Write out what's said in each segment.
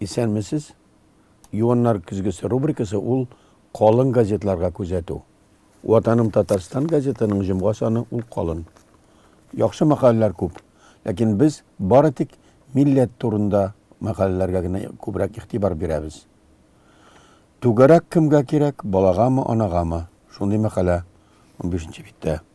Исәнмесез. Юаннар көзгесе рубрикасы ул калын газетларга күзәтү. Ватаным Татарстан газетының җомга саны ул калын. Яхшы мәкаләләр күп, ләкин без бары тик милләт турында мәкаләләргә генә күбрәк игътибар бирәбез. Түгәрәк кемгә кирәк, балагамы, анагамы? Шундый мәкалә 15 нче биттә.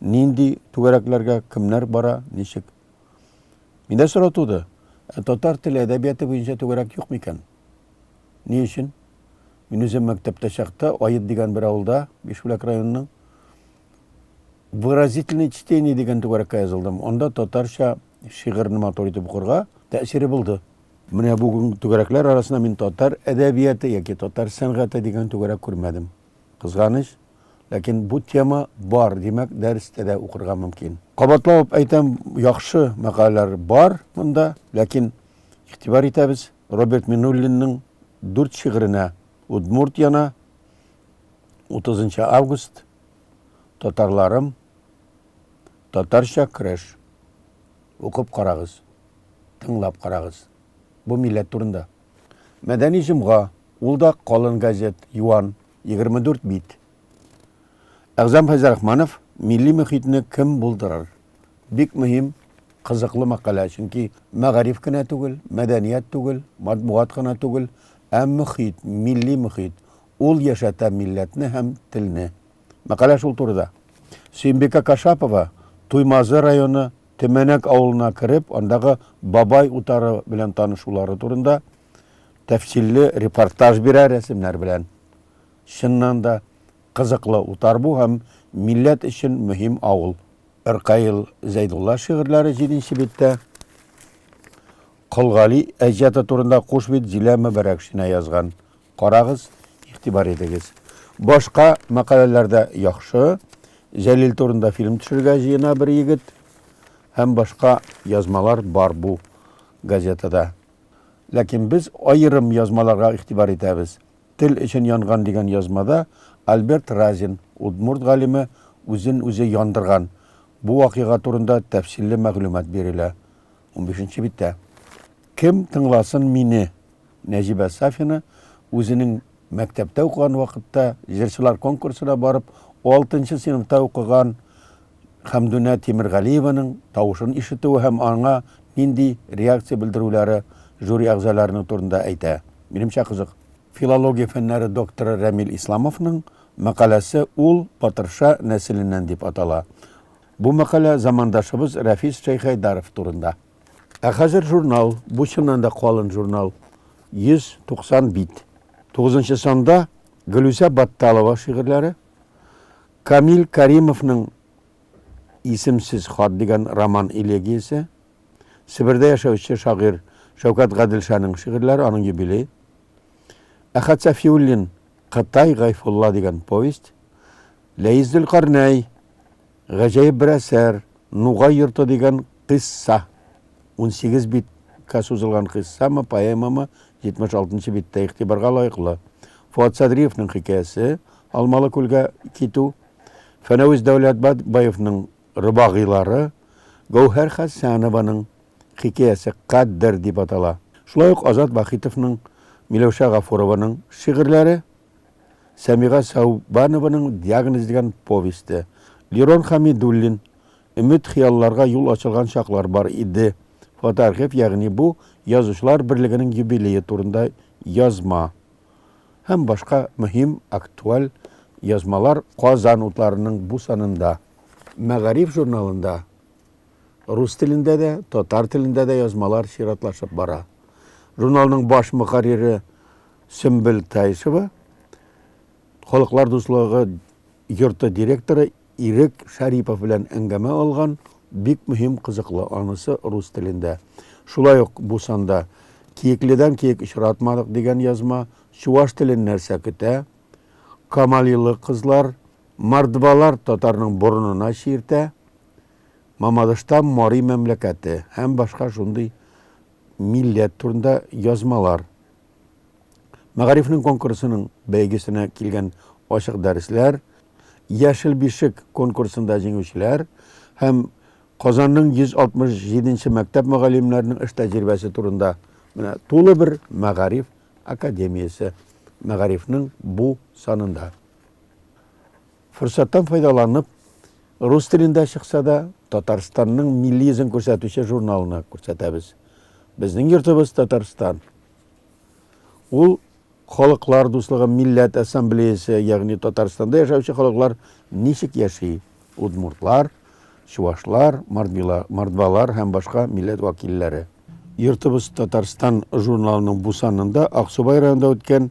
Нинди түгәрәкләргә кемнәр бара, ничек? Миндә сорау туды, ә татар теле әдәбияты буенча түгәрәк юк микән? Ни өчен? Мин үзем мәктәптә чакта Аед дигән бер авылда, Бишбүләк районының, Выразительные чтения дигән түгәрәккә язылдым. Анда татарча шигырьне матур итеп укырга тәэсире булды. Менә бүген түгәрәкләр арасында мин татар әдәбияты яки татар сәнгате дигән түгәрәк күрмәдем. Кызганыч, ләкин бу тема бар, димәк, дәрестә дә укырга мөмкин. Кабатлап әйтәм, яхшы мәкаләләр бар монда, ләкин игътибар итәбез Роберт Минуллинның дүрт шигыренә Удмуртияна, 30 август, Татарларым, Татарча көрәш. Укып карагыз, тыңлап карагыз. Бу милләт турында. Мәдәни җомга, ул да калын газет, юан, 24 бит. Әгъзам Фәйзрахманов милли мөхитне кем булдырыр? Бик мөһим, кызыклы мәкалә, чөнки мәгариф кенә түгел, мәдәният түгел, матбугат кына түгел, ә мөхит, милли мөхит, ул яшәтә милләтне һәм телне. Мәкалә шул турыда. Сөембикә Кашапова Туймазы районы Төмәнәк авылына кереп, андагы бабай утары белән танышулары турында тәфсилле репортаж бирә рәсемнәр белән. Чыннан да, кызыклы утар бу һәм милләт өчен мөһим авыл. Ркаил Зәйдулла шигырьләре җиденче биттә. Колгали әҗәты турында куш бит Зилә Мөбәрәкшина язган. Карагыз, игътибар итегез. Башка мәкаләләр дә яхшы. Җәлил турында фильм төшергә җыена бер егет. Һәм башка язмалар бар бу газетада. Ләкин без аерым язмаларга игътибар итәбез. Тел өчен янган дигән язмада Альберт Разин, удмурт галиме, үзен үзе яндырган. Бу вакыйга турында тәфсилле мәгълүмат бирелә. Унбишенче биттә. Кем тыңласын мине, Нәҗибә Сафина үзенең мәктәптә укыган вакытта җырчылар конкурсына барып алтынчы сыйныфта укыган Хәмдүнә Тимергалиеваның тавышын ишетүе һәм аңа нинди реакция белдерүләре жюри әгъзаларының турында әйтә. Минемчә кызык. Филология фәннәре докторы Рәмил Исламовның мәкаләсе Ул Батырша нәселеннән дип атала. Бу мәкалә замандашыбыз Рәфис Шәйхәйдаров турында. Ә хәзер журнал, бу чыннан да калын журнал, 190 бит. Тугызынчы санда Гөлүсә Батталова шигырьләре, Камил Кәримовның Исемсез хат дигән роман-элегиясе, Себердә яшәүче шагыйрь Шәүкәт Гаделшаның шигырьләре, аның юбилее, Әхәт Сафиуллин Кытай Гайфулла дигән повесть, Ләис Зөлкарнәй Гаҗәеп бер әсәр, Нугай йорты дигән кыйсса. Унсигез битка сузылган кыйссамы, поэмамы, 76 нчы биттә игътибарга лаеклы. Фоат Садриевның хикәясе, Алмалы күлгә китү, Фәнәвис Дәүләтбаевның Робагыйлары, Гәүһәр Хәсәнованың хикәясе Кадер дип атала. Шулай ук Азат Вахитовның, Миләүшә Гафурованың шигырьләре. Сәмига Сәүбанованың Диагноз дигән повесте, Лирон Хәмидуллин, Өмет-хыялларга юл ачылган чаклар бар иде, фотоархив, ягъни бу, Язучылар берлегенең юбилее турында язма һәм башка мөһим, актуаль язмалар Казан утларының бу санында. Мәгариф журналында рус телендә дә, татар телендә дә язмалар чиратлашып бара. Журналның баш мөхәррире Сөмбел Таишева, Халыклар дуслыгы йорты директоры Ирек Шәрипов белән әңгәмә алган, бик мөһим, кызыклы, анысы рус телендә. Шулай ук бу санда Киекледән киек очратмадык дигән язма, чуваш телен нәрсә көтә, Камалилы кызлар, мордвалар татарның борынына чиртә, Мамадышта Мари мәмләкәте һәм башка шундый милләт турында язмалар Мәгарифнең конкурсының бәйгесенә килгән ачык дәресләр, Яшел бишек конкурсында җиңүчеләр һәм Казанның 167 нче мәктәп мөгаллимнәренең эш тәҗрибәсе турында менә тулы бер Мәгариф академиясе Мәгарифнең бу санында. Форсаттан файдаланып, рус телендә чыкса да, Татарстанның милли йөзен күрсәтүче журналны күрсәтәбез. Безнең йортыбыз Татарстан. Ул Халыклар дуслыгы милләт ассамблеясе, ягъни Татарстанда яшәүче халыклар ничек яши? Удмуртлар, чувашлар, мордвалар һәм башка милләт вәкилләре. Йортыбыз Татарстан журналының бу санында Аксубай районында үткән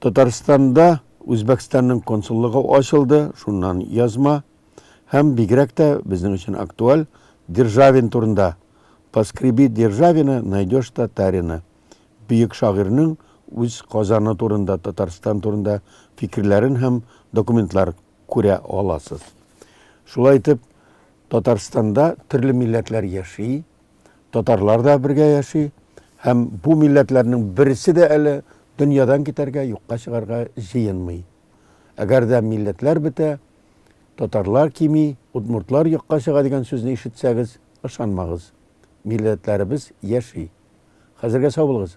Татарстанда Үзбәкстанның консуллыгы ачылды, шуннан язма. Һәм бигрәк тә безнең өчен актуаль Державин турында. Поскреби Державина, найдешь татарина. Бөек шагыйрьнең үз Казаны турында, Татарстан турында фикерләрен һәм документлар күрә аласыз. Шулай итеп, Татарстанда төрле милләтләр яши. татарлар да бергә яши һәм бу милләтләрнең берсе дә әле дөньядан китәргә, юкка чыгарга җыенмый. Әгәр дә милләтләр бетә, татарлар кими, удмуртлар юкка чыга дигән сүзне ишетсәгез, ышанмагыз. Милләтләребез яши. Хәзергә сау булыгыз.